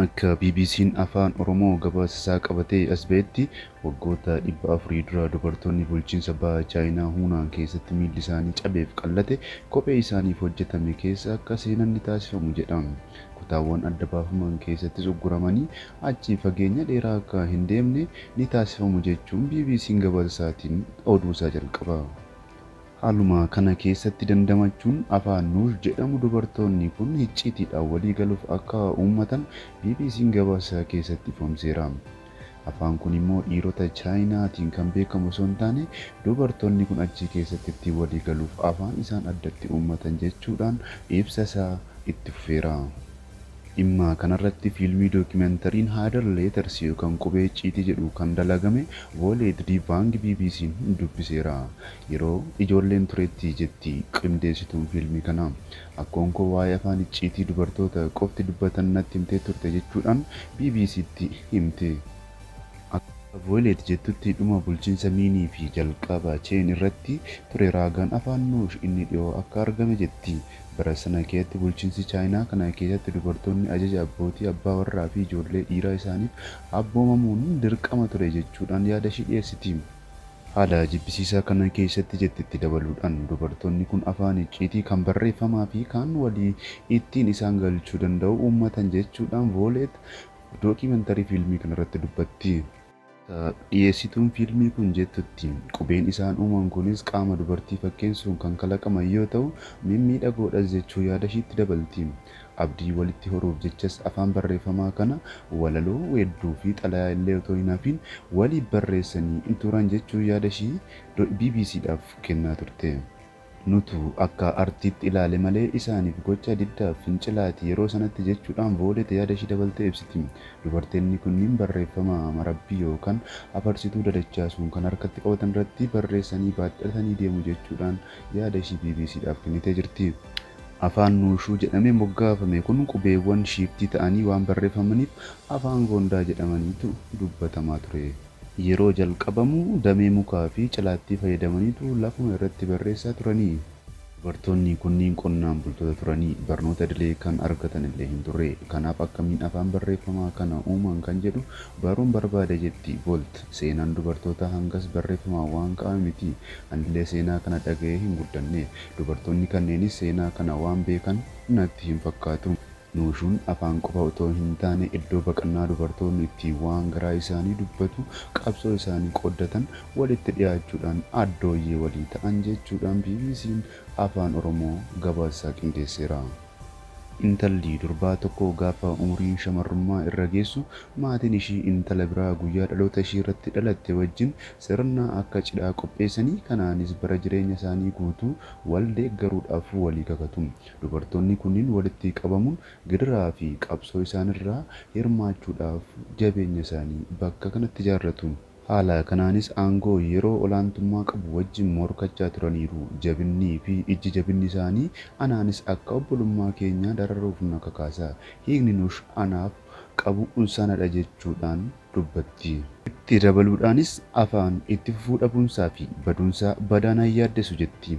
Akka BBC'n Afaan Oromoo gabaasisaa qabatee as ba'etti, waggoota dhibba afurii dura dubartoonni bulchiinsa Baha Chaayinaa Huunaan keessatti miilli isaanii cabeef qallate kophee isaaniif hojjetame keessa akka seenan ni taasifamu jedha. Kutaawwan adda baafaman keessattis ugguramanii achi fageenya dheeraa akka hin deemne ni taasifamu jechuun BBC'n gabaasasaatiin oduusaa jalqaba. Haaluma kana keessatti dandamachuun Afaan Nuush jedhamu dubartoonni kun hicciitiidhaan walii galuuf akka uummatan BBC'n gabaasa isaa keessatti ifoomseera. Afaan kun immoo dhiirota Chaayinaatiin kan beekamu osoo hin taane dubartoonni kun achi keessatti ittiin walii galuuf afaan isaan addatti uummatan jechuudhaan ibsa isaa itti fufeera. Dhimma kanarratti fiilmii dookimentariin Hidden Letters yookaan Qubee Icciitii jedhu kan dalagame Vooleet Di Vaang BBC'n dubbiseera. Yeroo ijoolleen turetti jetti qindeessituun fiilmii kanaa. Akkoon koo waa'ee afaan icciitii dubartoota qofti dubbatan natti himtee turte jechuudhaan BBC'tti himte. Akka Vooleet jettutti dhuma bulchiinsa Miinii fi jalqaba Cheen irratti ture raagaan afaan Nuush inni dhiyoo akka argame jetti. Bara sana keessatti bulchiinsi Chaayinaa kana keessatti dubartoonni ajaja abbootii, abbaa warraa fi ijoollee dhiiraa isaaniif abboomamuun dirqama ture jechuudhaan yaadashii dhiyeessiti. Haala jibbisiisaa kana keessatti jetti itti dabaluudhaan, dubartoonni kun afaan icciitii kan barreeffamaa fi kaan walii ittiin isaan galchuu danda'u uummatan jechuudhaan Vooleet dookimantarii fiilmii kanarratti dubbatti. Dhiyeessituun fiilmii kun jettutti, qubeen isaan uuman kunis qaama dubartii fakkeensuun kan kalaqaman yoo ta'u, mimmiidhagoodhas jechuu yaadashiitti dabalti. Abdii walitti horuuf jechas afaan barreeffamaa kana walaloo, weedduufi xalayaa illee otoo hin hafiin waliif barreessanii turan jechuun yaadashii BBCdhaaf kennaa turte. Nutu akka artiitti ilaale malee isaaniif gocha diddaaf fincilaati yeroo sanatti jechuudhaan Voolet yaada ishii dabaltee ibsiti. Dubarteenni kunniin barreeffama marabbii yookaan afarsituu dadachaasuun kan harkatti qabatan irratti barreessanii baadhatanii deemu jechuudhaan yaada ishii BBCdhaaf kennitee jirti. Afaan Nuushuu jedhamee moggaafame kun qubeewwan shiiftii ta'anii waan barreeffamaniif Afaan Goondaa jedhamaniitu dubbatamaa ture. Yeroo jalqabamu damee mukaa fi cilaattii fayyadamaniitu lafuma irratti barreessaa turani. Dubartoonni kunniin qonnaan bultoota turani. Barnoota idilee kan argatan illee hin turre. Kanaaf akkamiin afaan barreeffamaa kana uuman kan jedhu baruun barbaade jetti Volt. Seenaan dubartootaa hangas barreeffamaan waan ka'ame miti. Anillee seenaa kana dhaga'ee hin guddanne. Dubartoonni kanneenis seenaa kana waan beekan natti hin fakkaatu. Nuushuun afaan qofa otoo hintaane iddoo baqannaa dubartoonni itti waan garaa isaanii dubbatu, qabsoo isaanii qooddatan, walitti dhiyaachuudhaan addooyyee walii ta'an jechuudhaan BBCn Afaan Oromoo gabaasasaa qindeesseera. Intalli durbaa tokko gaafa umuriin shamarrummaa irra geessu maatiin ishii intala biraa guyyaa dhaloota ishiirratti dhalatte wajjin sirna akka cidhaa qopheessanii kanaanis bara jireenya isaanii guutuu wal deeggaruudhaaf walii kakatu. Dubartoonni kunniin walitti qabamuun gidiraa fi qabsoo isaan irraa hirmaachuudhaaf jabeenya isaanii bakka kanatti ijaarratu. Haala kanaanis aangoo yeroo olaantummaa qabu wajjin morkachaa turaniiru. Jabinnii fi ijji jabinni isaanii anaanis akka obbolummaa keenyaa dararuuf na kakaasa. Hiikni Nush anaaf qabu sana dha jechuudhaan dubbatti. Itti dabaluudhaanis, Afaan itti fufuu dhabuunsaa fi baduunsaa badaa na hin yaaddessu jetti.